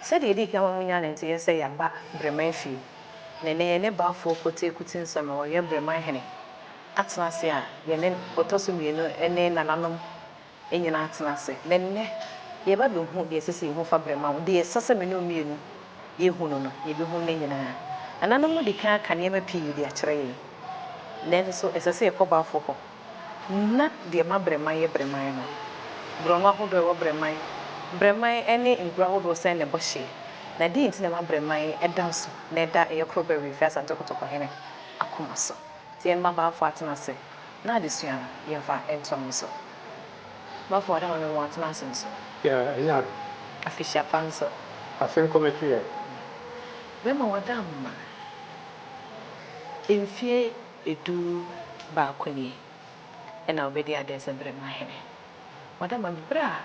Sɛdeɛ ɛdi kan ma monya no nso yɛ sɛ yɛaba Breman fie, na ɛnnɛ yɛne Balfour Quartier Kutinsɔm a ɔyɛ Breman hene atena ase a yɛne ɔtɔ so mmienu ne nananom nyinaa atena ase. Na ɛnnɛ yɛreba abɛhu deɛ ɛsɛ sɛ yɛhu fa Breman ho. Deɛ ɛsɛ sɛ me ne wo mmienu yɛhu no no, yɛbɛhunu no nyinaa. Nananom adi kan aka nneɛma pii de akyerɛ yɛn, nanso ɛsɛ sɛ yɛkɔ Balfour hɔ. Ná deɛ ɛma brɛman yɛ brɛman no, borɔno ahodoɔ a ɛwɔ brɛman, brɛman ne nkuro ahodoɔ sɛn ne bɔ hyeɛ, na deɛn nti na ɛma brɛman da nso na ɛda ɛyɛ koro bɛwee firi Asante Kotokɔhene akoma so? Nti yɛn mmabaafoɔ atena ase na adesua no yɛmfa ntoa mu nso. Bafo ada maame mo atena ase nso. Yeah, ɛnyɛ ade. Afehyia pa nso. Ase nkɔ m'akyi ɛ. Bɛma wada mma mfie. du baako nie na ɔbɛdi adeɛ sɛ Berema hene. Wɔda ma no berɛ a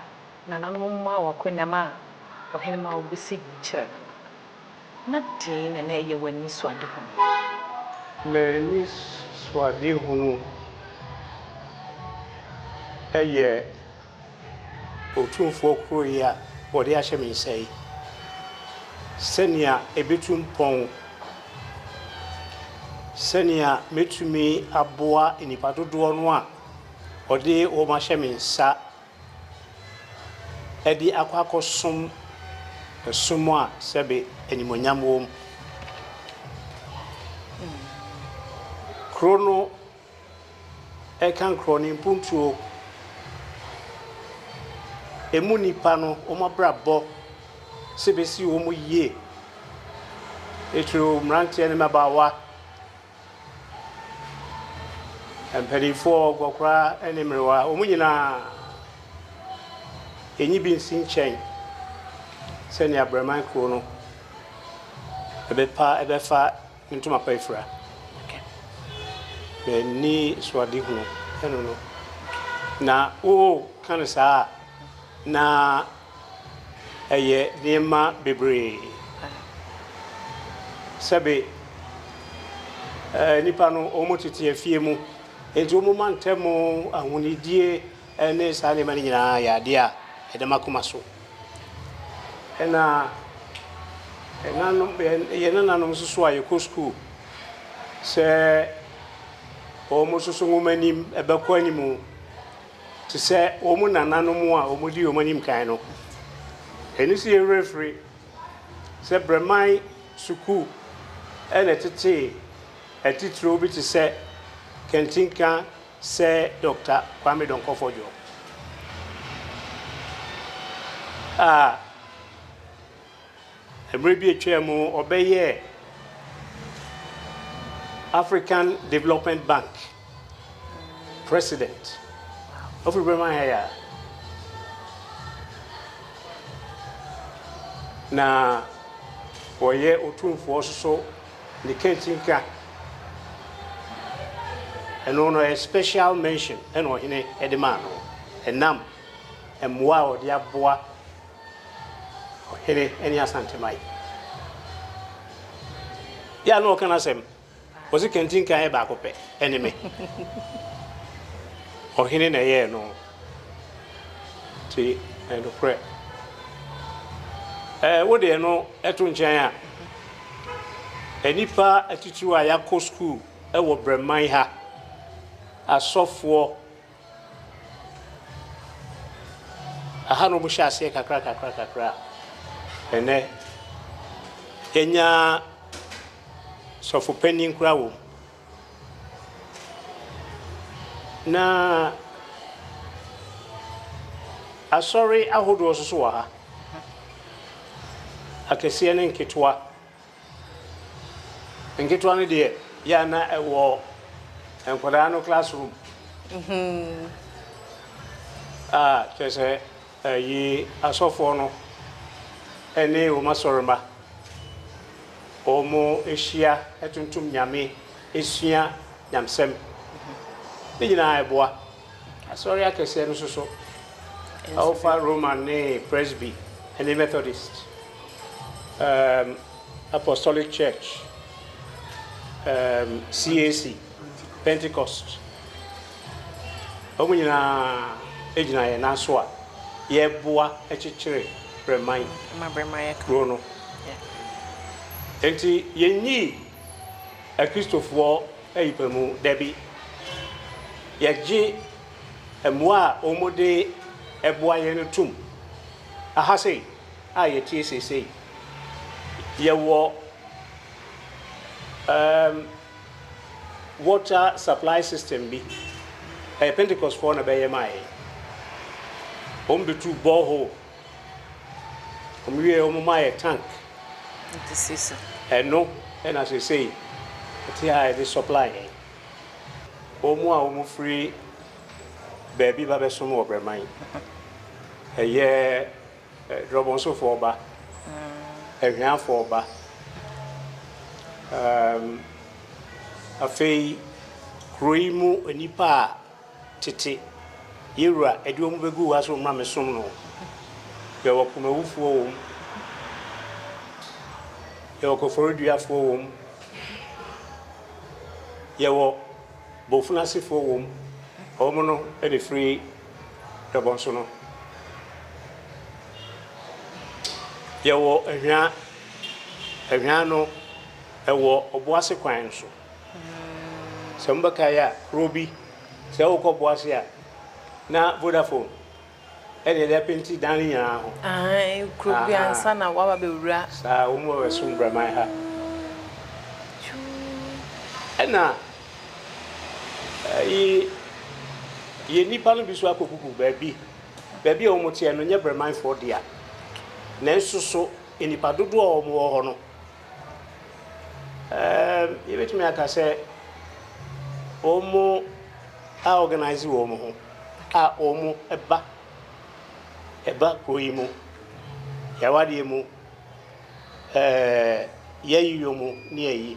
nananom mmaa wɔ akonnwam a ɔhene ma wɔbɔ sigi kyerɛ no no. Na deɛn na na ɛyɛ wo anisoadehunu? M'anisoadehunu yɛ. Otumfoɔ koro yi a wɔde ahyɛ me nsa yi, sɛnea ebetu mpɔn, sɛnea metumi aboa nnipa dodoɔ no a ɔde wɔn ahyɛ me nsa de akɔ akɔsom som a sɛbe animuonyam wom. Kuro no. Ɛka nkorɔ no mpuntuo. Ɛmu nnipa no wɔn abrabɔ sɛ ɛbɛsi wɔn yie. Titiriw mmeranteɛ ne mmabaawa, mpanimfoɔ, nkɔkora ne mmerewa, wɔn nyinaa ɛnyi bi nsi nkyɛn sɛnea Abraman kuro no ɛbɛpa ɛbɛfa. Me ntoma pa afira. M'ani so adehunu no no. Na woka no saa a, na ɛyɛ nneɛma bebree. Sɛbe nnipa no wɔtete afie mu, enti wɔma ntɛm ahonidie. Ne saa nneɛma no nyinaa yɛ adeɛ a ɛda m'akoma so. Ɛna ɛnanom, yɛn nananom nso so a yɛkɔ sukuu sɛ wɔn nso so wɔn anim bɛkɔ anim te sɛ wɔn nananom a wɔdi wɔn anim kan no. Ɛno nso yɛ werɛ firi sɛ Brɛman sukuu na ɛtetee atitiriw bi te sɛ Kantinka, Sɛ Dɔkta Kwame Donkor-Fojo a mmerɛ bi atwaa mu ɔbɛyɛɛ African Development Bank President, ɔfiri Bremen ha yi a, na ɔyɛ Otumfoɔ nso so Ne kɛntsi nkã. Eno no ɔyɛ special mention na ɔhene de maa no. Enam mmoa a ɔde aboa ɔhene ne Asanteman. Yɛ a na ɔka n'asɛm, ɔse kɛntsi nkã yɛ baako pɛ, ɛne me. Ɔhene na ɛyɛɛ no. Te nokorɛ. Ɛɛ wode ɛno to nkyɛn a, nnipa atitiriw a yɛakɔ sukuu wɔ Brɛman ha, asɔfoɔ, aha na wɔhyɛ aseɛ kakrakakra a, ɛnnɛ yɛanya sɔfo panin koraa wɔ mu. Na asɔre ahodoɔ nso so wɔ ha, akɛseɛ ne nketewa. Nketewa no deɛ, yɛ a na ɛwɔ nkwadaa no classroom a kyerɛ sɛ Yi asɔfoɔ no ne wɔn asɔremma, wɔhyia tontom Nyame, sua Nyamesɛm. Ne nyinaa ɛboa. Asɔre akɛseɛ no nso so, wofa Roman ne Presby ne Methodist, Apostolic Church, CAC. Pentecost. Wɔn nyinaa gyina yɛn nan so a yɛboa kyekyere Bremae Kuro no. Enti yɛnnyii Akristofoɔ ayipamu dabi. Yɛgye mmoa a wɔde boa yɛn no tom. Aha sei a yɛtie seesei, yɛwɔ ɛɛm. Water supply system bi ɛyɛ pentecost foɔ na bɛyɛ maa yɛn wɔn bɛ tu bore hole wɔn wie wɔn maa yɛ tank ɛno ɛna sesei ɛte ha yɛde supply yɛn wɔn a wɔn firi baabi ba bɛsom wɔ brɛman ɛyɛ Drɔbɔnsofoɔ ba, ahiafoɔ ba. Afei kuro yi mu nnipa a tete yɛn wura de wɔn bɛguu ha sɛ wɔmmra mmɛsom no, yɛwɔ Kumawufoɔ wɔ mu, yɛwɔ Koforidua-foɔ wɔ mu, yɛwɔ Bofunasefoɔ wɔ mu, wɔn no na ɛfiri. dɔbɔnso no. Yɛwɔ ahwaa, ahwaa no ɛwɔ ɔbo ase kwan no so. Sɛ mo bɛkae a, kuro bi, sɛ wo kɔ bo ase a, na Vodafone ɛna ɛde apenti dan no nyinaa ho. Aane, kuro bi ansa na waba bɛ wura. Saa, wɔn wɔ ɛso Mbraman ha. Ɛna Eyi yɛ nnipa no bi so akogugu baabi. Baabi a wɔteɛ no nyɛ Bremanfoɔ dea. Nanso so nnipa dodoɔ a wɔwɔ hɔ no, um, yɛbɛtumi aka sɛ wɔn a organise wɔn ho a wɔba ɛba kuro yi mu, yɛawadeɛ mu, eh, yɛayiyɔ mu ne ayi.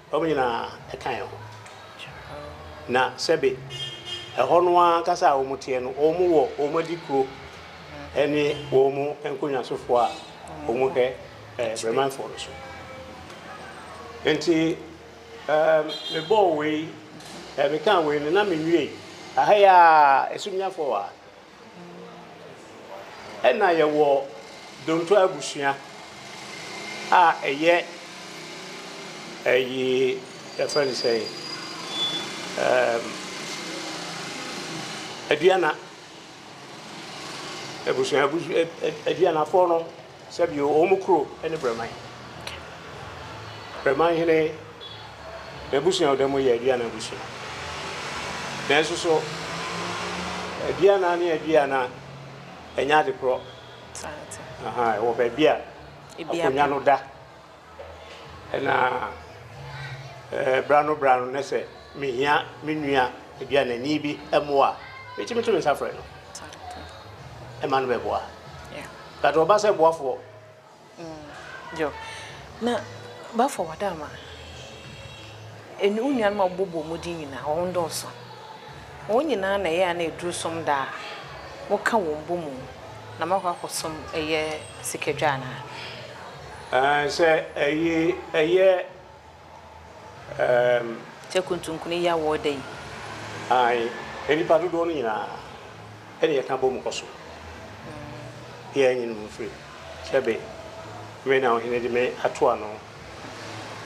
Wɔn nyinaa ka yɛn ho. Na sɛbe ɛhɔ no ara ankasa a wɔteɛ no, wɔwɔ wɔn adikuro ne wɔn nkonyaasofoɔ a wɔhwɛ Bremanfoɔ no so. Enti mebɔɔ wei, mekaa wei no, na menwiei. Aha yi ara, ɛso nni afɔwaa. Ɛna yɛwɔ Donto abusua a ɛyɛ ɛyi yɛfrɛ no sɛn ɛɛm Aduana abusua abusu Aduanafoɔ no Sɛ bio, ɔwɔ mo kuro ne Brɛman. Brɛman hene n'abusua a ɔda mu yɛ Aduana abusua. Nanso so Aduana ne Aduana nyɛ ade korɔ? Ahaa, ɛwɔ baabi a akonnwa no da. Na bra no bra no na sɛ mehia me nua aduanani bi mmoa a, metumi to me nsa frɛ no ma no bɛboa. But ɔba sɛ boafoɔ. Yo, na boafoɔ wɔ dɛ ama wo nuanom a wobɔbɔ mu din nyinaa, wɔn nnɔɔso. Wɔn nyinaa na ɛyɛ a na ɛduru som da a, moka wɔn bɔ mu na moakɔ akɔsom yɛ sikadwa anaa? Ɛɛ, sɛ ɛye, ɛyɛ, ɛɛm. Sɛ kuntunkunu yi awɔɔ dɛn? Ae, nnipa dodoɔ no nyinaa, ɛne yɛka bɔ mu kɔ so. Yɛn nyi no mu mfiri, sɛ be, me na ɔhene de me ato ano,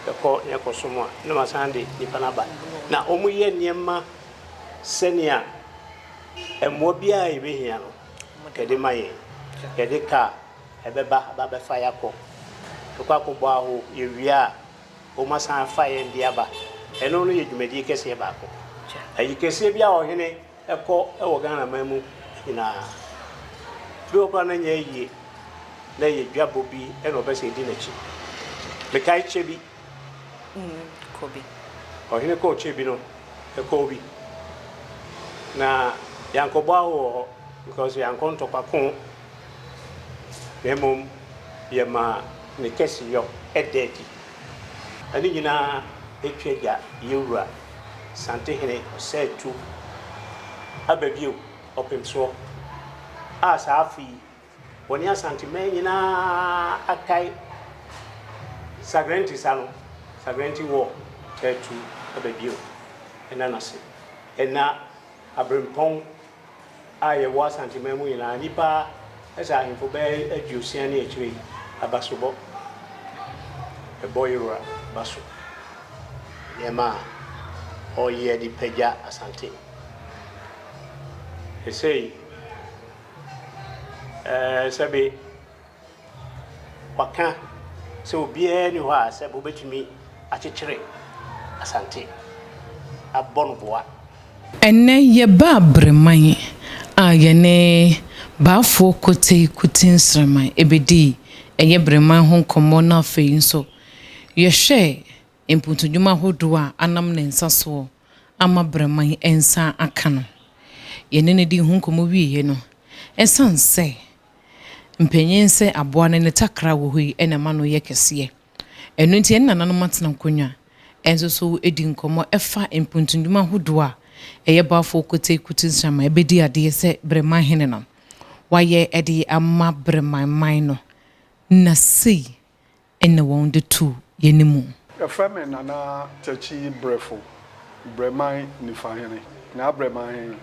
yɛkɔ na yɛkɔ som a, na masan de nnipa no aba. Na wɔyɛ nneɛma sɛnea mmoa biara a yɛbɛhia no, yɛde ma yɛn. Yɛde kaa, Ɛbɛba abɛfa yɛn akɔ. Yɛkɔ akɔbɔ aho, yɛwie a, wɔasan afa yɛn de aba. Ɛno no yɛ dwumadie kɛseɛ baako. Ayi kɛseɛ bi a ɔhene kɔ wɔ Ghanaman mu nyinaa, bi wɔ hɔ koraa na ɛnyɛ ayie, na ɛyɛ dwabɔ bi na ɔpɛ sɛ yɛdi n'akyi. Mekae kyɛ bi, ɔhene kɔɔ kyɛ bi no, ɛkɔɔ bi, na yɛankɔbɔ aho wɔ hɔ, because yɛankɔ ntɔkwa ko. na mmom yɛma ne kɛseyɔ da adi. Ɛno nyinaa twa agya yɛn Wura Santehene Ɔsɛetu aba bio ɔpemsoɔ a saa afe yi wɔne Asanteman nyinaa atae Sagrenti sa no, Sagrenti War, atu aba bio ɛna no ase, ɛna aberempɔn. a yɛwɔ Asanteman mu nyinaa, nnipa sɛ ahemfo bɛyɛ aduosia ne akyire yi aba so bɔ ɛbɔ Yewura ba so nneɛma a ɔyɛ de pagya Asante. Sesei, ɛɛ, sɛbe. Wɔka sɛ obiara nni hɔ a sɛ wobɛtumi akyekyere Asante abɔ no boa. Ɛnnɛ yɛba Abereman a yɛne Baafoɔ Kotei Kuti Nsraman bɛdi ɛyɛ Bereman ho nkɔmmɔ na afei nso yɛhwɛ mpuntudwuma ahodoɔ a anam ne nsa soɔ ama Bereman nsa aka no. Yɛne no dii ho nkɔmmɔ wieeɛ no, ɛsiane sɛ Mpanyin sɛ aboa no ne takra a wɔ hɔ yi na ɛma no yɛ kɛseɛ. Ɛno nti yɛne nananom atena nkonnwa nso so adi nkɔmmɔ ɛfa mpuntunnwuma ahodoɔ a ɛyɛ Baafoɔ Kotei Kutu Nsram a ɛbɛdi adeɛ sɛ Breman Hene no wayɛ de ama Breman man no na sei ne wɔn de to yɛn mu. Yɛfrɛ me Nana Takyi Brɛfo, Brɛman Nifahene. Nyaa Brɛman he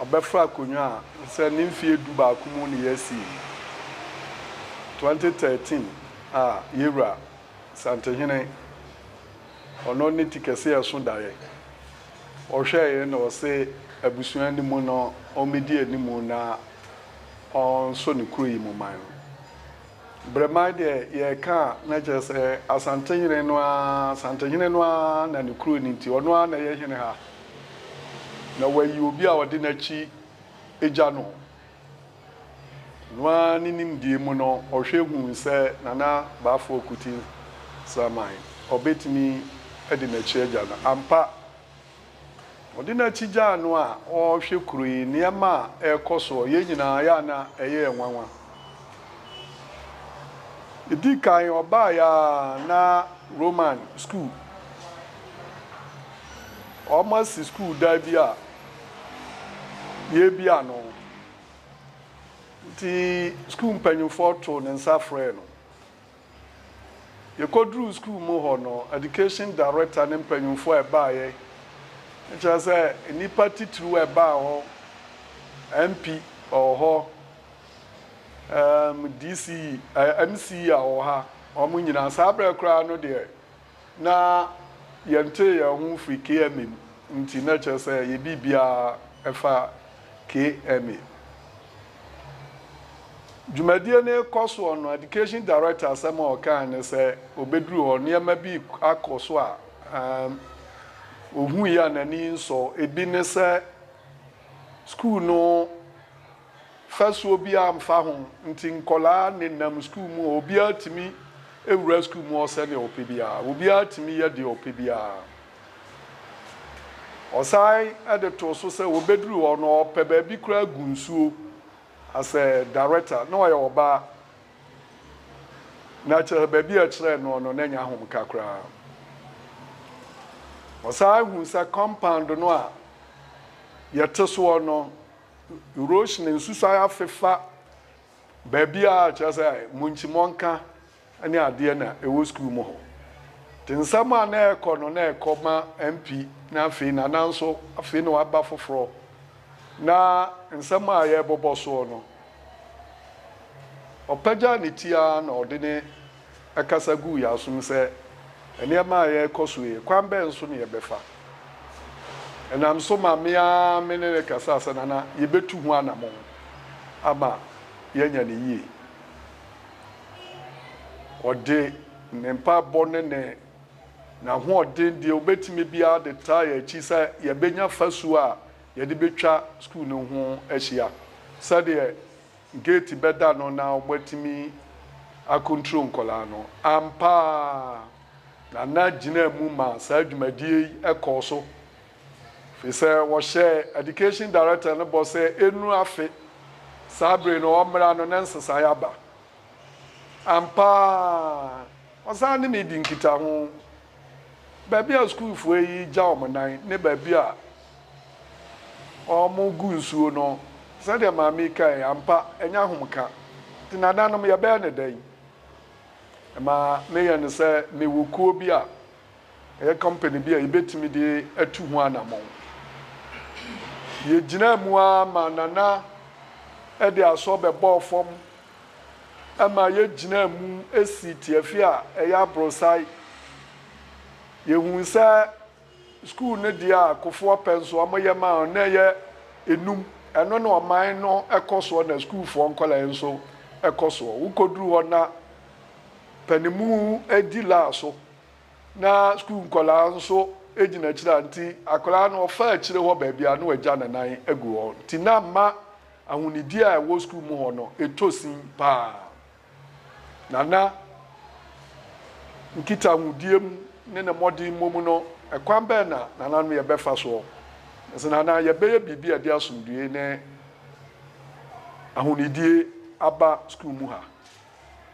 ɔbɛfra akonwa a sɛ ne mfie du baako mu ne yɛasii no, 2013 a Yɛwura Santehene ɔno ne ti kɛse a ɛso daeɛ, ɔhwɛeɛ na ɔse abusua no mu no ɔmmɛdi anim na ɔnso ne kuro yi mu man no. Berɛ man deɛ yɛreka a na kyerɛ sɛ Asantehene no ara, Asantehene no ara na ne kuro no nti ɔno ara na ɛyɛ hene ha. Na wayi obi a ɔde n'akyi gya no. Ɔno ara ne nimdeɛ mu no ɔhwɛ huu sɛ Nana Baafoɔ Kuti Sraman ɔbɛtumi de n'akyi agya no. Ampa, Ɔde n'akyi gyaa no a ɔrehwɛ kuro yi nneɛma a ɛrekɔ soɔ. Yɛn nyinaa yɛ a na ɛyɛ yɛn nwanwa. Ɛdi kan ɔbaeɛ a na Roman sukuu, wɔasi sukuu dan bi a yɛrebia no. Nti sukuu mpanimfoɔ too ne nsa frɛɛ no. Yɛkɔduruu sukuu mu hɔ no, Education Director ne mpanyimfoɔ a ɛbaeɛ, kyerɛ sɛ nnipa titiriw a ɛbaa hɔ, MP a ɔwɔ hɔ, um, DCE, eh, MCE a ɔwɔ ha, wɔn nyinaa, saa berɛ koraa no deɛ, na yɛntee yɛn ho mfiri KMA mu nti, na ɛkyerɛ sɛ ɛyɛ biribiara fa KMA. Dwumadie no rekɔ soɔ no, Education Director asɛm a ɔkae ne sɛ ɔbɛduru hɔ, nneɛma bi akɔ so a ɔhuiɛ a n'ani nsɔ. Ebi ne sɛ sukuu no. Fasuo biara mfa ho nti nkwadaa nenam sukuu mu a obiara tumi wura sukuu mu sɛdeɛ ɔpɛ biara. Obiara tumi yɛ deɛ ɔpɛ biara. Ɔsan de too so sɛ wɔbɛduru hɔ no ɔpɛ baabi koraa gu nsuo as a director. Na ɔyɛ ɔbaa na kyerɛ sɛ baabi a ɛkyerɛɛ noɔ no na ɛnyɛ ahomka koraa. Ɔsan huu sɛ compound no a yɛte soɔ no Roshni nsusuae afe fa baabi a kyerɛ sɛ munkyi mɔnka ne adeɛ na ɛwɔ sukuu mu hɔ. Nti nsɛm a na ɛrekɔ no na ɛkɔ ma MP na afei Nana nso afei na waba foforɔ na nsɛm a yɛrebobɔ soɔ no ɔpagya ne ti ara na ɔde ne kasa guu yɛn asom sɛ nneɛma a ɛrekɔ so yi, kwan bɛn so na yɛbɛfa? Ɛnam so ma me ara me ne no kasaa sɛ Nana, yebetu ho anammɔn ama yɛanya no yiye. Ɔde ne mpaebɔ ne ne n'ahoɔden deɛ obetumi biara de taa yɛn akyi sɛ yɛbɛnya fasuo a yɛde betwa sukuu no ho ahyia sɛdeɛ Gate bɛda no na wɔatumi akɔntro nkwadaa no. Ampa ara, Nana gyinaa mu maa saa dwumadie yi kɔɔ so, firi sɛ wɔhyɛɛ Education Director no bɔ sɛ ɛnnuru afe saa bere no ɔmmra no na nsesaeɛ aba. Ampa ara, ɔsan ne me di nkitaho. Baabi a sukuufoɔ yi gya wɔn nan ne baabi a wɔgu nsuo no, sɛdeɛ maame yi kaeɛ, ampa, ɛnyɛ ahomeka. Nti nananom, yɛbɛyɛ no dɛn? Ɛma meyɛ no sɛ mewɔ kuo bi a ɛyɛ company bi a yɛbɛtumi de atu ho anammɔn. Yɛgyinaa mu ara ma Nana de aso bɛbɔɔ fam ma yegyinaa mu sii tiafi a ɛyɛ aborosae. Yehui sɛ sukuu no deɛ a Kofoɔ pɛ nso wɔyɛ maa no na ɛyɛ enum. Ɛno na ɔman no kɔ soɔ na sukuufoɔ nkwadaa nso kɔ soɔ. Wokɔduru hɔ na panimu di laa so na sukuu nkwadaa nso gyina akyire a nti akwadaa no ɔfa akyire hɔ baabi a na wɔagya ne nan agu hɔ nti na mma Ahonidie a ɛwɔ sukuu mu hɔ no, ɛtɔ sin paa. Na na nkitahodie mu ne ne mmɔdemmɔ mu no, ɛkwan bɛn na nananom yɛ bɛfa soɔ? Nanso na anaa yɛbɛyɛ biribi a ɛde asomdwoeɛ ne ahonidie aba sukuu mu ha.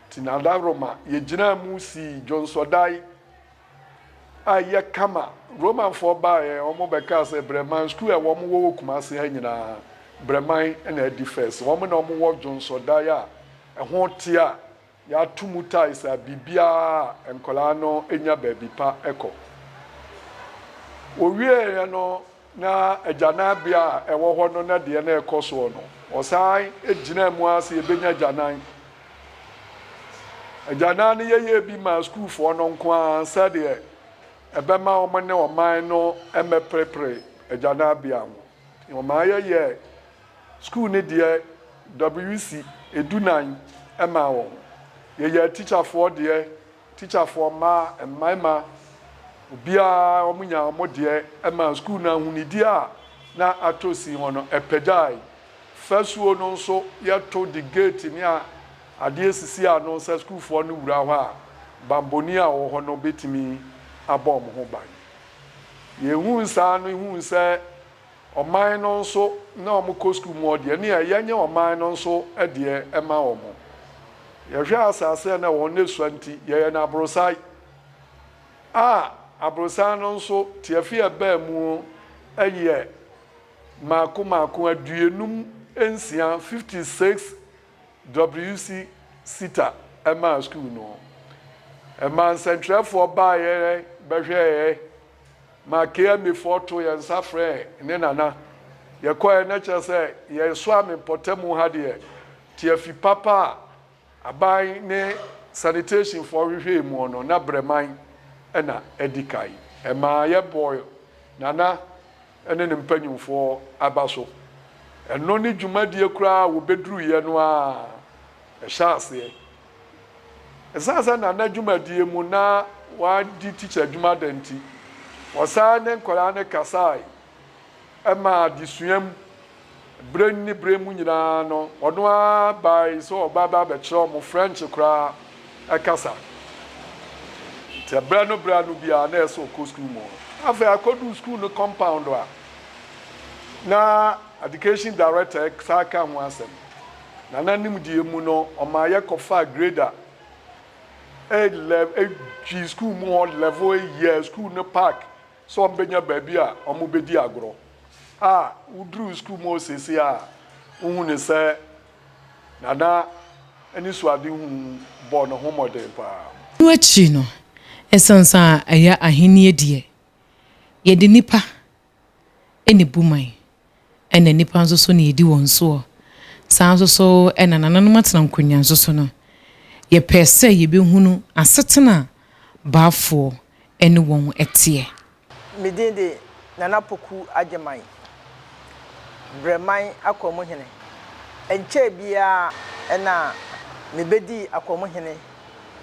Nti na Ada Roma, yɛgyinaa mu sii dwonsɔdae a yɛ kama Romanfoɔ baeɛ wɔn bɛ kaa sɛ Brɛman sukuu a wɔn wɔ wɔ Kumase ha nyinaa Brɛman na adi first wɔn na wɔn wɔ dwonsɔdan a ɛho teɛ a yɛ ato mu tiles a biribiara a nkwadaa no nya baabi pa kɔ wɔwieɛ no Na agyananbea a ɛwɔ hɔ no na deɛ na ɛkɔ soɔ no, wɔsan gyinaa mu ara sɛ yɛbɛnya agyanan. Agyanan no yɛyɛɛ bi maa sukuufoɔ no nko ara sɛdeɛ ɛbɛma wɔn ne ɔman no mmɛperepere agyananbea ho. Wɔmaa yɛyɛɛ sukuu no deɛ WC du nan maa wɔn. Yɛyɛɛ tikyafoɔ deɛ Tikyafoɔ mmaa, mmarimma, obiara wɔn nyaa wɔn deɛ ɛmaa sukuu no ahonidie a na atɔ sin hɔ no ɛpɛgyae. Fasuo no nso yɛto de gate ne adeɛ sisi ano sɛ sukuufoɔ no wura hɔ a banbɔni a ɔwɔ hɔ no bɛtumi abɔ wɔn ho ban. Yɛhuu saa no huu sɛ Ɔman no nso na wɔn kɔ sukuu mu hɔ deɛ ɛne a yɛnyɛ ɔman no nso deɛ ɛma wɔn. Yɛhwɛ asase a na wɔn no sua nti yɛyɛ no aborosae a aborosae no nso tiafi a ɛbaa mu yɛ maako maako aduonum nsia, fifty six, WC sita ɛmaa sukuu no. Ɛmaa nsɛntwerɛfoɔ baeɛ bɛhwɛeɛ Ma KMA foɔ to yɛn nsa frɛɛ ne nana yɛkɔɛ na kyerɛ sɛ yɛn soame mpɔtamu ha deɛ tiafi papa a aban ne sanitation foɔ hwehwɛɛ muɔ no na brɛman na adi kan ɛmaa yɛ bɔɔ nana ne ne mpanyinfoɔ aba so ɛno ne dwumadie koraa a wɔbɛduruiɛ no ara ɛhyɛ aseɛ. Esiane sɛ na ne dwumadie mu na wadi tikya adwuma dɛ nti, ɔsan ne nkwadaa no kasae maa adesua mu. Berɛ ne berɛ mu nyinaa no, ɔno ara bae sɛ ɔbɛba abɛkyerɛ wɔn French koraa kasa. Nti berɛ no berɛ ano biara na ɛyɛ sɛ ɔkɔ sukuu mu. Afei akɔduu sukuu no compound a, na Education Director san ka ho asɛm. Nana nimdeɛ mu no, ɔmaa yɛkɔfaa grade a ɛyɛ lɛ fii sukuu mu hɔ level a yɛɛ sukuu no park sɛ wɔbɛnya baabi a wɔbɛdi agorɔ a woduruu sukuu mu hɔ seesei a wohu no sɛ Nana anisoadehu bɔɔ ne ho mmɔden pa ara. Ɛno akyi no, ɛsensan a ɛyɛ Ahenni deɛ, yɛde nnipa ne Buman, ɛna nnipa nso so na yɛdi wɔn soɔ. Saa nso so na nananom atena nkonnwa nso so no. Yɛpɛɛ sɛ yɛbɛhunu asetena a Baafoɔ ne wɔn teɛ. Me din de Nana Poku Agyeman, Brɛman Akwanmuhene. Ɛnkyɛɛ biara na mebɛdii Akwanmuhene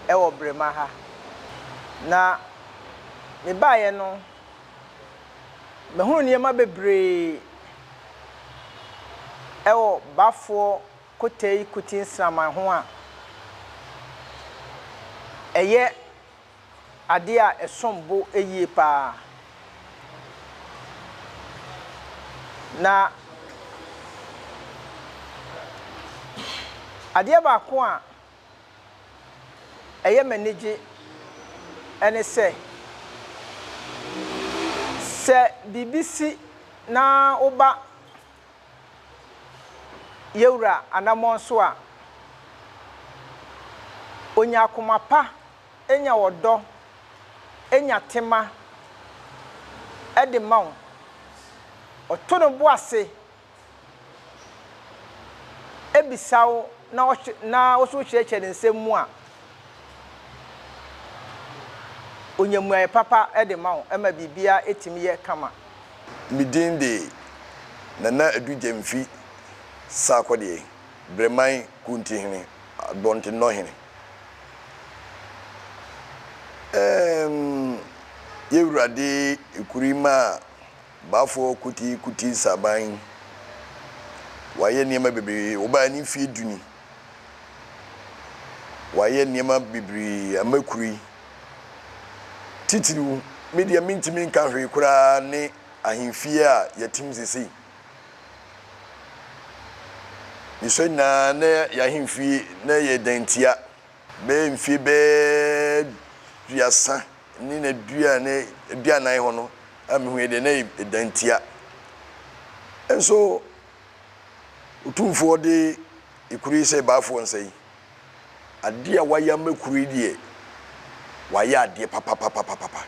wɔ Brema ha. Na mebaeɛ no Mehunu nneɛma bebree wɔ Bafoɔ Kotei Kuti nsraman ho a ɛyɛ adeɛ a ɛsom bo yie pa ara. Na adeɛ baako a ɛyɛ me anigye ne sɛ, sɛ biribi si na woba yɛn wura anammɔn so a, onya akoma pa, nya ɔdɔ, nya tema de ma wo. Ɔto ne bo ase. bisa wo na ɔhwe na wo nso wokyerɛkyerɛ ne nsɛm mu a, onya mmuaeɛ papa de ma wo ma biribiara tumi yɛ kama. Me din de Nana Adu Gyam mfi Sarkodie, Breman Kuntihene, Abɔntennɔhene. Ɛɛm, Y'Awurade Ekuri maa. Bafoɔ Kuti Kuti Saban wayɛ nneɛma bebree, ɔbaa ne mfeɛ du ni. Wayɛ nneɛma bebree ama kuro yi. Titiriw, me deɛ mentumi nka hwee koraa ne ahemfie a yɛtem sesei. Mesua nyinaa na yɛn ahemfie na ɛyɛ dantia Bɛyɛ mfie bɛyɛ duasa ne na dua ne aduanan hɔ no a mehuiɛ deɛ na ɛda ntia. Nso Otumfoɔ de ekuro yi sɛ Baafoɔ nsa yi, adeɛ a wayɛ ama ekuro yi deɛ, wayɛ adeɛ papapapapapa.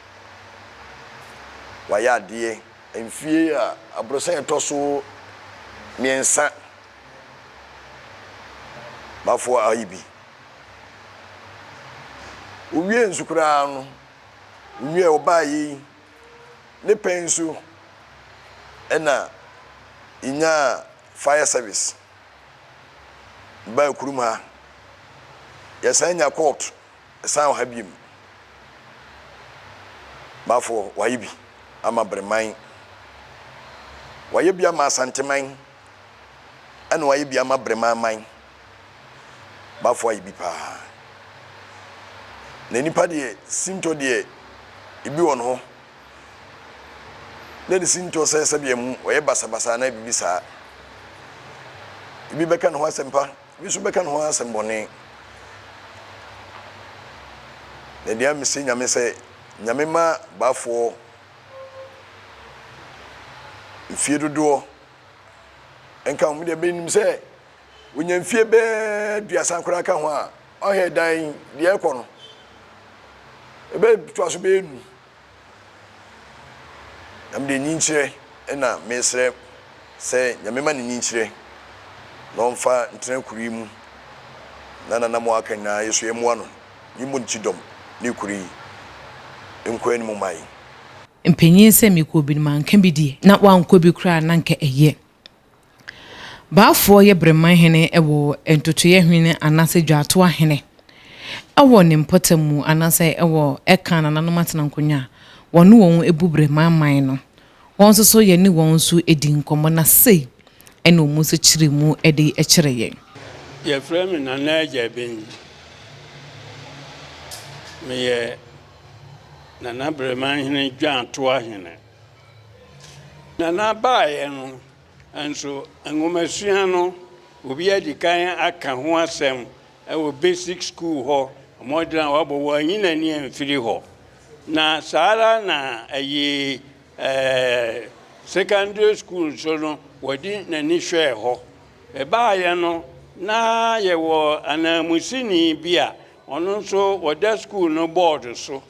Wayɛ adeɛ. Mfie a aborosan a ɛtɔ so mmiɛnsa Baafoɔ ayi bi. Owiee nso koraa no, onua a ɔbaeɛ yi, ne pɛ nso na yɛnyaa fire service baa kurom ha. Yɛsan nya court san wɔ ha biom. Bafo wayɛ bi ama Breman, wayɛ bi ama Asanteman, ɛna wayɛ bi ama Breman man. Bafo ayɛ bi paa. Na nipa deɛ sintɔ deɛ ebi wɔ ne hɔ na ne sintɔ sɛ sɛbea mu ɔyɛ basabasa anaa biribi saa. Ebi bɛka ne ho asɛm pa, ebi nso bɛka ne ho asɛm bɔne. Na deɛ mese Nyame sɛ Nyame mma Bafoɔ mfie dodoɔ nka wɔn deɛ menim sɛ onya mfie bɛyɛ aduasa koraa ka ho a ɔhwɛ dan yi deɛ ɛkɔ no ɛbɛtoa so bɛyɛ num na mede nyinkyerɛ ɛna mesrɛ sɛ nyame ma ne nyinkyerɛ na ɔmfa ntena kuro yi mu na nana mo aka nyinaa yɛ so yɛ mmoa no ne mmɔ ne kyidɔm ne kuro yi nkɔ anim mma yi. Mpanyin sɛ mekɔ bi no manka bi deɛ na wankɔ bi koraa na nka ɛyɛ. Baafoɔ yɛ Berema hene wɔ Ntotoeɛ hene anaasɛ Dwaatoa hene wɔ ne mpɔtam mu anaasɛ wɔ ɛka nananom atenankonnwa a wɔne wɔn bu Berema man no. Wɔn nso so yɛne wɔn nso di nkɔmmɔ na sei na wɔn nso kyerɛ mu de kyerɛ yɛn. Yɛfrɛ me Nana Agya Ben. Meyɛ Nana Berema hene Dwaatoa hene. Nana baeɛ no Nanso nwomasua no, obi adi kan aka ho asɛm wɔ basic school hɔ, mmɔden a wabɔ, wanyi n'ani amfiri hɔ. Na saa ara na ɛyɛ secondary school nso no, wɔde n'ani hwɛɛ hɔ. Ɛbaeɛ no, na yɛwɔ ananmusini bi a ɔno nso ɔda school no board so.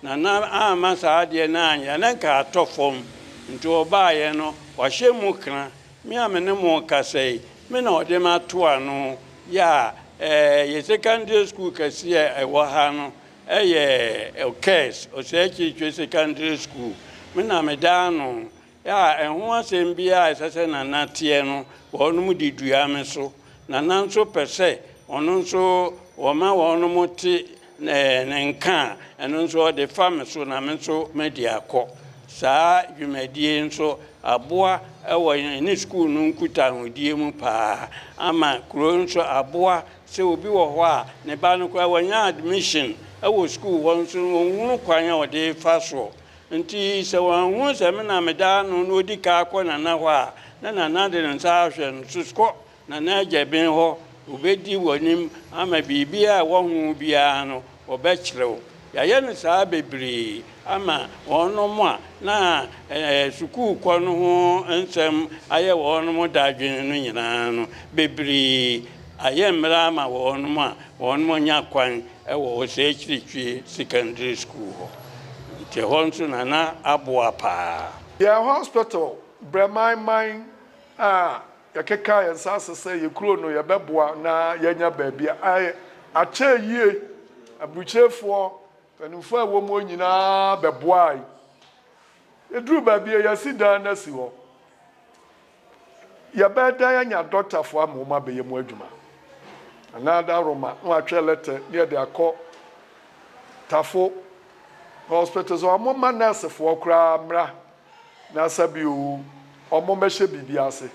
Na na amma saa adeɛ no anyɛ a, na nka atɔ fam. Nti ɔbaeɛ no, wahyɛ mu kra, Me a me ne mo rekasa yi, me na ɔde me ato ano yɛ a, eh, yɛ Secondary School kɛseɛ a ɛwɔ ha no yɛ Okers, Osei Kyirikyiri Secondary School, me na meda ano A Ɛho asɛm biara a ɛsɛ sɛ Nana teɛ no, wɔnom de dua me so. Nana nso pɛ sɛ ɔno nso wɔma wɔnom te ne nka a, ɛno nso ɔde fa me so na me nso madi akɔ. Saa dwumadie yi nso aboa wɔ yɛne sukuu no nkutahodie mu pa ara ama kuro yi nso aboa sɛ obi wɔ hɔ a ne ba no koraa wanya admission wɔ sukuu hɔ nso ɔnhunu kwan a ɔde refa soɔ Enti sɛ wanhunu sɛ me na meda ano na odi ka kɔ Nana hɔ a, na Nana de ne nsa ahwɛ no so, Kɔ Nana agya Ben hɔ, obedi w'anim ama biribiara a ɛwɔ ho biara no, ɔbɛkyerɛ wo. Yɛayɛ no saa bebree ama wɔnom a na sukuukɔ no ho nsɛm ayɛ wɔnom dadwen no nyinaa no, bebree ayɛ mmerɛ ama wɔnom a wɔnom anya kwan wɔ Ɔsɛɛkyirikyie Secondary School hɔ nti ɛhɔ nso na na aboa paa. Yɛn hospital brɛ man man a yɛkeka yɛn nsa ase sɛ yɛ kuro no yɛbɛboa na yɛanya baabi a akyɛ yie. Aburukyirefoɔ mpanimfoɔ a ɛwɔ mu hɔ nyinaa bɛboae. Yɛduruu baabi a yɛasi dan no asi hɔ. Yɛbɛdan anya dɔktafo ama wɔabɛyɛ mu adwuma, anaa da Roma na wɔatwerɛ lɛtɛ na yɛde akɔ tafo na hospital sɛ wɔmma nɛɛsefoɔ koraa mmra na sɛ bio wɔmmɛhyɛ biribi ase.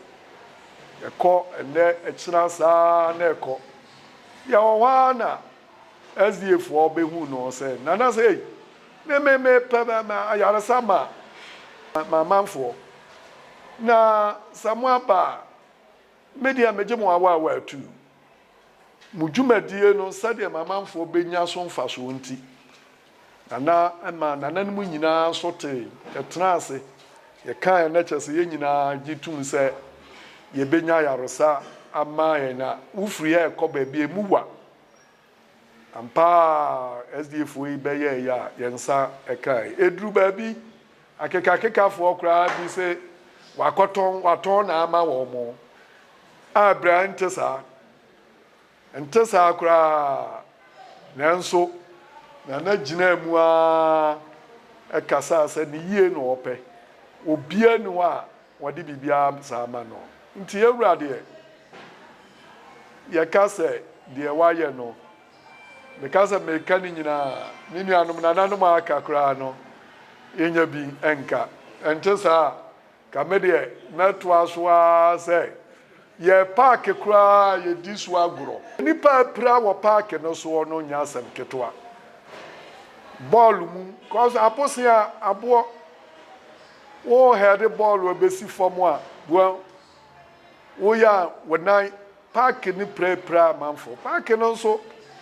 Ɛkɔ ɛnnɛ, ɛkyena saa na ɛkɔ. Yɛwɔ hɔ ara na SDAfoɔ bɛhuu no sɛ, Nana sei ne me mepɛ ayaresa ma m'amanfoɔ, na sɛ moaba a, me deɛ megye mo awaawaa atuu. Mo dwumadie no sɛdeɛ m'amanfoɔ bɛnya so mfasoɔ nti, Na na ɛma nananom nyinaa nso tee, yɛtenaa ase, yɛkaeɛ, na kyerɛ sɛ yɛn nyinaa gye tom sɛ yɛbɛnya ayaresa ama yɛn. Na wofiri ha rekɔ baabi a emu wa. Ampa ara, SDAfoɔ yi bɛyɛɛ yɛ a yɛn nsa kaeɛ. Ɛduruu baabi, akekakekafoɔ koraa bi se wɔakɔtɔn, wɔatɔn na ama wɔn, a berɛ a ɛnte saa. Ɛnte saa koraa. Nanso, Nana gyinaa mu ara kasaa sɛ ne yie na ɔpɛ. Obiara nni hɔ a wɔde biribiara saa ma no. Nti yɛwura deɛ, yɛka sɛ deɛ wayɛ no, meka sɛ mereka ne nyinaa a, ne nuanom, nananom a aka koraa no, yɛnya bi nka. Ɛnte saa? Nka me deɛ mɛtoa so ara sɛ yɛ paake koraa yɛdi so agorɔ. Nnipa a apira wɔ paake no soɔ no nyɛ asɛm ketewa. Bɔɔlo mu, cos abosea, aboɔ, wo hɛɛde bɔɔlo ɛbɛsi fam a, boa woyɛ a wo nan, paake no pirapira amanfoɔ. Paake no nso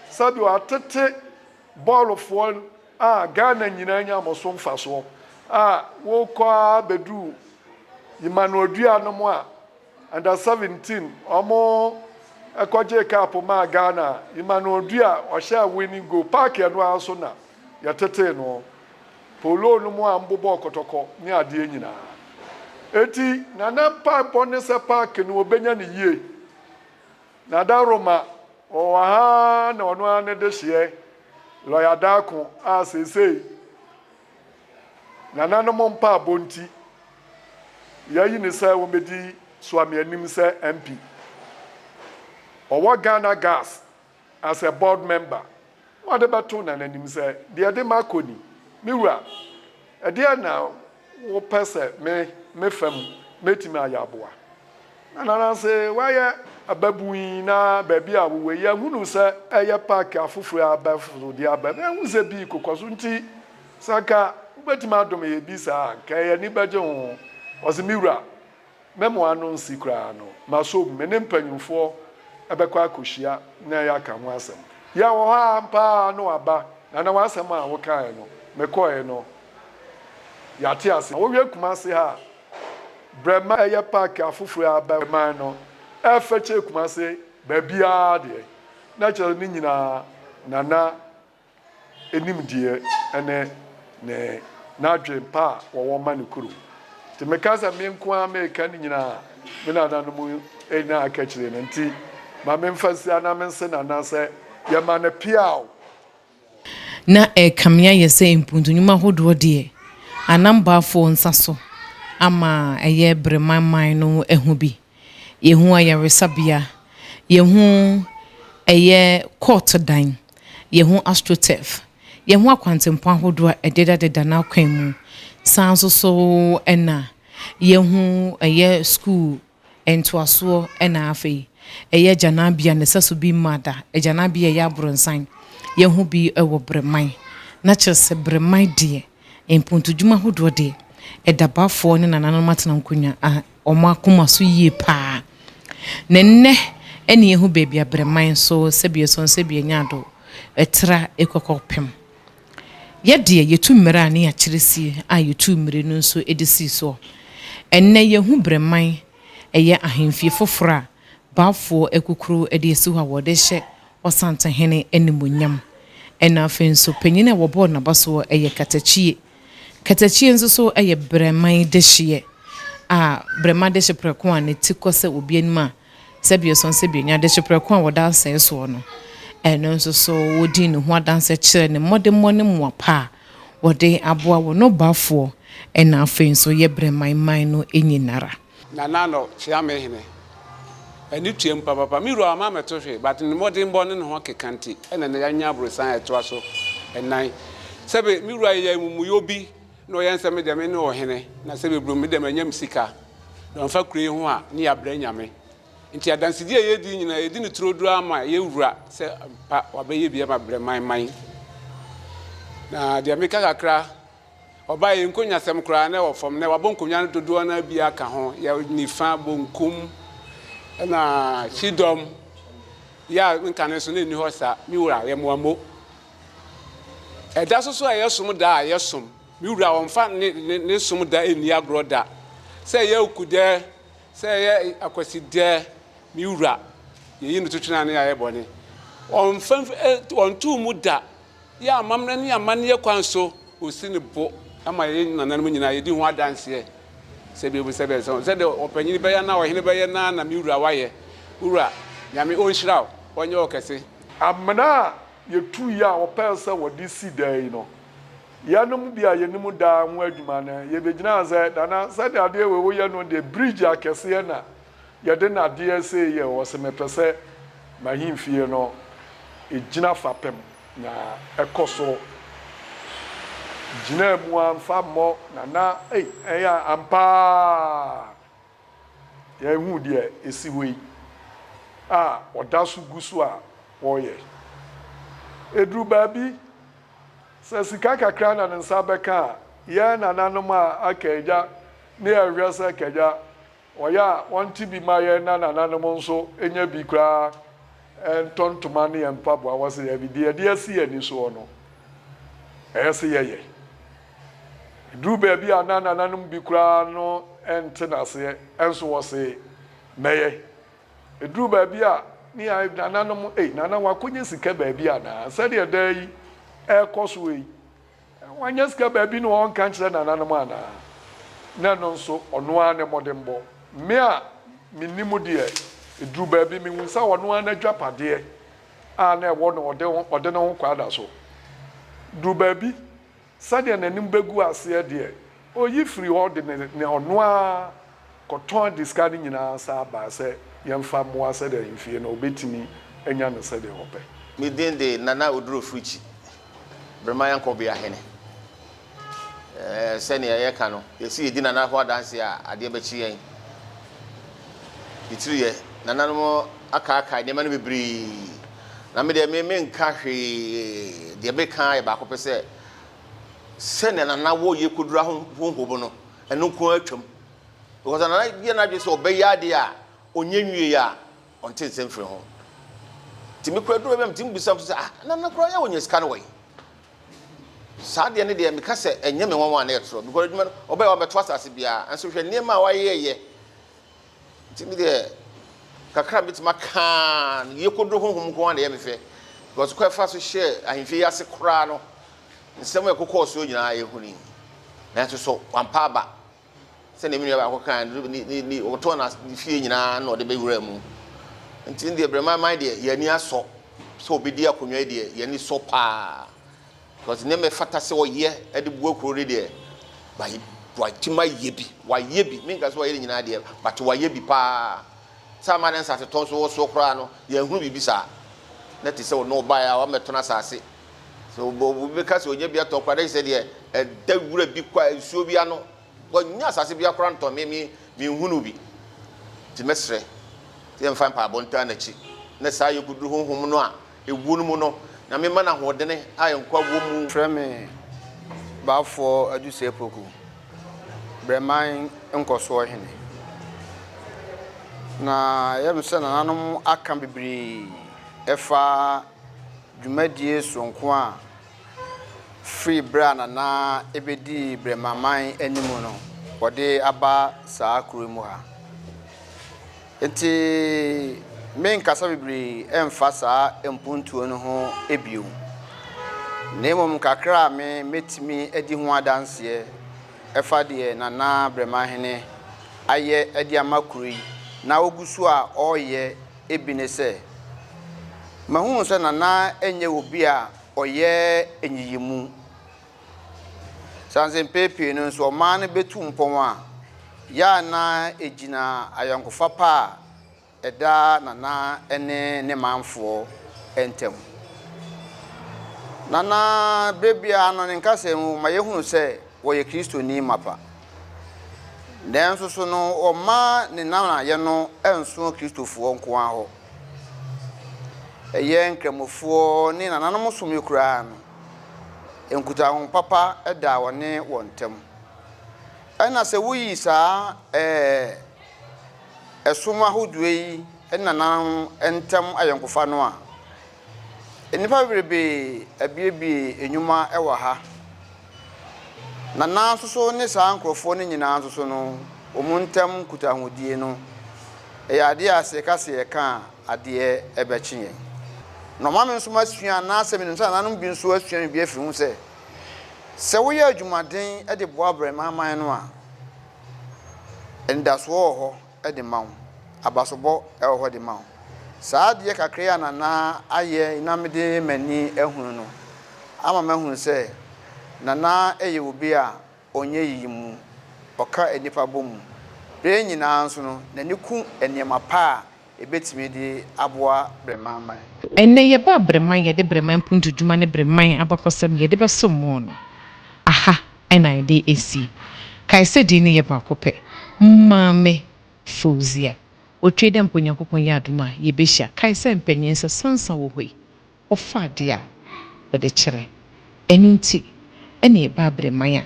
sɛdeɛ wɔatete. Bɔɔlofoɔ a Ghana nyinaa nya wɔn so mfasoɔ a wokɔ ara bɛduru Yemanuodua nom a under seventeen wɔn kɔgyee cup maa Ghana a Yemanuodua ɔhyɛɛ winning goal, park ɛno ara so na yɛtetee noɔ, polo nom a wɔbobɔɔ kɔtɔkɔ ne adeɛ nyinaa. Enti Nana mpaebɔ ne sɛ park no wɔbɛnya no yie Na da Roma wɔ wɔ ha na ɔno ara ne dehyeɛ lɔya Darko a seesei nananom mpaabɔ nti yɛayi no sɛ wɔbɛdi Suamianim sɛ MP. Ɔwɔ Ghana Gas as a board member na ɔde bɛto nananim sɛ deɛ ɛde ma kɔ ni. Me wura, ɛdeɛn na Wopɛ sɛ me me fa mu mɛtumi ayɛ aboa? Nananse woayɛ ababun yi na baabi a wowɔ yi ahunu sɛ ɛyɛ park afoforo a abɛforo de aba na ahu sɛ bi kokɔ so nti sɛ anka wobɛtumi adome yɛ bi saa a anka yɛn ani bɛgye ho. Ɔse, Me wura, Me mo ano nsi koraa no, m'asom, me ne mpanyimfoɔ bɛkɔ akɔhyia na yɛaka ho asɛm. Yɛn wɔ hɔ ara ampa ara na waba, na na w'asɛm a wokaeɛ no, mekɔeɛ no, yɛate aseɛ. Wowie Kumasi ha a, brɛ ma ɛyɛ paake afoforɔ a aba man no, ɛrefɛkyɛɛ Kumasi baabiara deɛ, na kyerɛ sɛ ne nyinaa Nana nimdeɛ ne ne n'adwen pa a wɔwɔ ma ne kuro. Nti meka sɛ me nko ara meka ne nyina a me nananom nya aka akyire no nti ma me mfa nsia na me nse nana sɛ yɛma no peaw. Na ɛrekame ayɛ sɛ mpuntu nnwuma ahodoɔ deɛ anambafoɔ nsa so ama ɛyɛ berɛ man man no ahu bi. Yɛhu ayaresabea. Yɛhu ɛyɛ court dan. Yɛhu astroturf. Yɛhu akwantempɔn ahodoɔ a ɛdedadeda n'akwan mu. Saa nso so na yɛhu ɛyɛ sukuu ntoasoɔ na afei ɛyɛ agyananbea na ɛsɛ so bi mma da. Agyananbea a ɛyɛ Abronsan. Yɛhu bi wɔ Breman. Na kyerɛ sɛ Breman deɛ, mpontodwuma ahodoɔ deɛ, ɛda Bafoɔ ne nananom atena nkonnwa a wɔn akoma so yie pa ara. Na nnɛ ɛne yɛhu baabi a berɛman nso sɛbea sɔn sɛbea nyaado tra kɔ kɔpem. Yɛ deɛ yɛtu mmerɛ a ne yɛakyerɛ sie a yɛtuu mmire no nso de sii soɔ. Ɛnnɛ yɛhu berɛman ɛyɛ ahemfie foforɔ a Baafoɔ akukuro de asi hɔ a wɔde rehyɛ Ɔsantehene animuonyam. Ɛna afei nso panyin a wɔbɔɔ n'abasoɔ yɛ katakyie. Katakyie nso so yɛ brɛman dehyeɛ a brɛma dehyeprɛko a ne ti kɔ sɛ obi anim a sɛbiɛsɔn sɛbienwaa dehyeprɛko a wɔda asɛe soɔ no, ɛno nso so wɔdi ne ho adanseɛ kyerɛ ne mmɔdemmɔ ne mmoa pa a wɔde aboa wɔn ɔbɔafoɔ, ɛna afei nso yɛ brɛman man no nyinara. Nana Ano kyea me hene. Ani tuam papapa. Me wura wama me to hwe but ne mmɔdenbɔ ne ne ho keka nti ɛna nnɛ yanya aborosan a ɛtoa so nnan. Sɛbe me wura yɛ amumuyɛ obi na ɔyɛ nsɛ me deɛ me ne ɔhene na sɛbe brom me deɛ manya me sika na ɔmfa kuro yi ho a ne yɛabrɛ nyame. Nti adansedie a yɛredi yi nyinaa yɛdi no turoduro ara ma yɛn wura sɛ ampa wabɛyɛ bi ama brɛman man. Na deɛ meka kakra. Ɔbaa yi, nkonyasɛm koraa na ɛwɔ fam, na wabɔ nkonwa no dodoɔ no ara bi aka ho. Yɛ nifa, bonkum, ɛna kyidɔm. Yɛ a nka no nso na ɛnni hɔ saa. Me wura, yɛ mmoa mo. Ɛda so so a ɛyɛ som da a, yɛ som. Me wura, ɔmfa ne, ne, ne som da nni agorɔ da. Sɛ ɛyɛ awukudɛ, sɛ ɛyɛ akwasidɛ, me wura, yɛyi no to twene ane ayɛ bɔne. Ɔmfa mfi, ɛ, ɔnto mu da. Yɛ amammerɛ ne amanneɛ kwan so, osi no bo ma yɛn nananom nyinaa, yedi ho adanseɛ. Sɛdeɛm sɛdeɛ sɛ sɛdeɛ ɔpanyini bɛyɛ anaa ɔhene bɛyɛ no ara na me wura wayɛ. Wo wura, Nyame ɔnhyira wo, ɔnyɛ wo kɛse. Amena a yɛtuiɛ a wɔpɛɛ sɛ wɔde si dan yi no, yɛnom bi a yɛnim dan ho adwuma no, yɛbɛgyinaa sɛ, Nana, sɛdeɛ adeɛ wei woyɛ no deɛ, bridge akɛseɛ na Yɛde no adeɛ sei yɛ o, ɔse mepɛ sɛ m'ahemfie no gyina fapem na ɛkɔ so gyina mu a mfa mmɔ Nana ei ɛyɛ ampa ara yɛahu deɛ ɛsi hɔ yi a ɔda so gu so a ɔreyɛ. Ɛduru baabi sɛ sika kakra na ne nsa bɛka a, yɛn nananom a aka agya ne yɛhwɛ sɛ kagya Wɔyɛ a, wɔnte bi mma yɛn na nananom nso nnya bi koraa ntɔ ntoma ne yɛn mpaboa. Wɔse yɛn deɛ yɛde asi yɛn ani soɔ no, ɛyɛ se yɛyɛ. Ɛduru baabi a na nananom bi koraa no nte no aseɛ nso wɔse mɛyɛ. Ɛduru baabi a ne yɛn nananom, ei, nana wakɔnya sika baabi anaa? Sɛdeɛ daa yi ɛrekɔ soɔ yi, Wanya sika baabi na ɔnka nkyerɛ nananom anaa? Na ɛno nso, ɔno ara ne mmɔdenbɔ. Me a mennim deɛ, ɛduru baabi mehu sɛ ɔno ara n'adwapadeɛ a na ɛwɔ no ɔde ne ho kwaada so. Duru baabi, sɛdeɛ n'anim bɛgu aseɛ deɛ, Oyi firi hɔ de ne ne ɔno ara kɔtɔn ade sika no nyinaa san baa sɛ yɛmfa mmoa sɛdeɛ ahemfie no ɔbɛtumi anya no sɛdeɛ ɔpɛ. Me din de Nana Oduro Frikyi, Brema Yankobeya hene. Sɛdeɛ yɛka no, yɛsi yɛdi Nana ho adanseɛ a, adeɛ bɛkye yɛn. Titiriɛ, Nananom akaakae nneɛma no bebree. Na me deɛ me menka hwee, deɛ meka ara yɛ baako pɛ sɛ, sɛnea nana wɔ yɛ kodura ho honhom no ɛno nko ara twam because nana yɛ n'adwene sɛ ɔbɛyɛ adeɛ a ɔnyɛ nwie a ɔnte nse mfiri ho nti me kura duro bɛm nti mbisa m so sɛ ah nana kura yɛ wɔnyɛ sika no wɔyi saa deɛ ne deɛ meka sɛ ɛnyɛ me nwanwa na ɛtorɔ because adwuma no ɔbɛyɛ wɔabɛto asase biara nso hwɛ nneɛma a wɔayɛyɛ Nti me deɛ kakra mɛtumi aka no yie kodo honhom nko ara na ɛyɛ me fɛ because kɔ ɛfa so hyɛ ahemfie yi ase koraa no nsɛm a ɛkokɔɔ soɔ nyinaa yɛhu ni nanso so wampa aba sɛdeɛ me nua baako kan ne ɔtɔn na ne fie nyinaa na ɔde bɛwura mu nti deɛ brɛma man deɛ yɛn ani asɔ sɛ ɔbɛdi akonnwa yi deɛ yɛn ani sɔ paa Cause nneɛma a ɛfata sɛ ɔyɛ de boa kuro no deɛ wayi watumi ayɛ bi wayɛ bi menka sɛ wayɛ ne nyinaa deɛ but wayɛ bi paa sɛ ama ne nsase tɔn so wɔ soɔ koraa no yɛn hunu biribi saa na te sɛ ɔno ɔbaeɛ a wamɛtɔn asase sɛ obi bɛka sɛ ɔnya bi atɔn koraa dɛ sɛ deɛ ɛda wura bi kɔ a nsuo bi ano wɔnya asase bi akora ntɔn me me menhunu bi nti mɛsrɛ sɛ yɛmfa mpaebɔ ntaa n'akyi na saa yɛkɔduru honhom no a Ɛwuo no mu no, Nyame ma no ahoɔdene a nkwa wɔ mu. Frɛ me Baafoɔ Adusɛ Poku, Brɛman Nkɔsoɔ Hene. Na ɛyɛ me sɛ nananom aka bebree ɛfa dwumadie soronko a firi berɛ a Nana ɛbɛdii Brɛmaman anim no wɔde aba saa kuro yi mu ha. Enti merenkasa bebree mfa saa mpontuo no ho bio, na mmom kakra a me mɛtumi adi ho adanseɛ ɛfa deɛ Nana Bremahene ayɛ de ama kuro yi na ɔgu so a ɔreyɛ bi ne sɛ, mahunu sɛ Nana nyɛ obi a ɔyɛ nyiyimu. Esiane sɛ mpɛn pii no nso ɔman no betu mpɔn a, yɛ a na egyina ayɔnkofa pa a ɛda Nana ne ne manfoɔ ntam. Nana, berɛ biara no, ne nkasɛɛ mu ma yɛhunu sɛ ɔyɛ Kristoni mapa. Nanso so no ɔmma ne nanayɛ no nso Kristofoɔ nko ara hɔ? Ɛyɛ Nkramofoɔ ne nananom som yi koraa no, Nkutaho papa da wɔne wɔn ntam. Ɛna sɛ woyi saa ɛɛ ɛsom ahodoɔ yi nananom ntam ayɔnkofa no a, nnipa bebree abuebue nnwuma wɔ ha. Nana nso so ne saa nkurɔfoɔ no nyinaa nso so no, wɔn ntam nkutahodie no, ɛyɛ adeɛ a sɛ yɛka sɛ yɛka a, adeɛ ɛbɛkye yɛn na ɔma me nso masua anaasɛ menim sɛ nananom bi nso asua biribi afiri ho sɛ, sɛ woyɛ adwumaden de boa abarimaa man no a, anidasoɔ wɔ hɔ de ma wo, abasobɔ wɔ hɔ de ma wo. Saa adeɛ kakra yi a Nana ayɛ na mede m'ani ahunu no ama mahunu sɛ Nana yɛ obi a Ɔnyɛ yiyimu. Ɔka nnipa bɔ mu. Bere nyinaa nso no, n'ani ku nneɛma pa a ebetumi de aboa Breman man. Ɛnnɛ, yɛba Breman, yɛde Breman mpuntudwuma ne Breman abakɔsɛm, yɛde bɛsom mo no, aha na yɛde asi. Kae sɛ din no yɛ baako pɛ, Maame Fauzia. Otwei dɛ mpo Nyankopɔn yɛ adom a, yebehyia. Kae sɛ mpanyin nsa sansa wɔ hɔ yi. wɔfa ade a wɔde kyerɛ. Ɛno nti, ɛnna ɛbaa Bereman a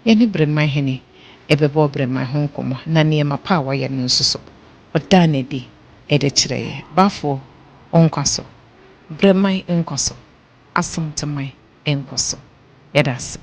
yɛne Bereman hene bɛbɔɔ Bereman ho nkɔmmɔ, na nneɛma pa a wayɛ no nso so, ɔdaa no adi de kyerɛɛ yɛn. Bafo nkwa so! Bereman nkwa so! Asanteman nkwa so! Yɛda ase.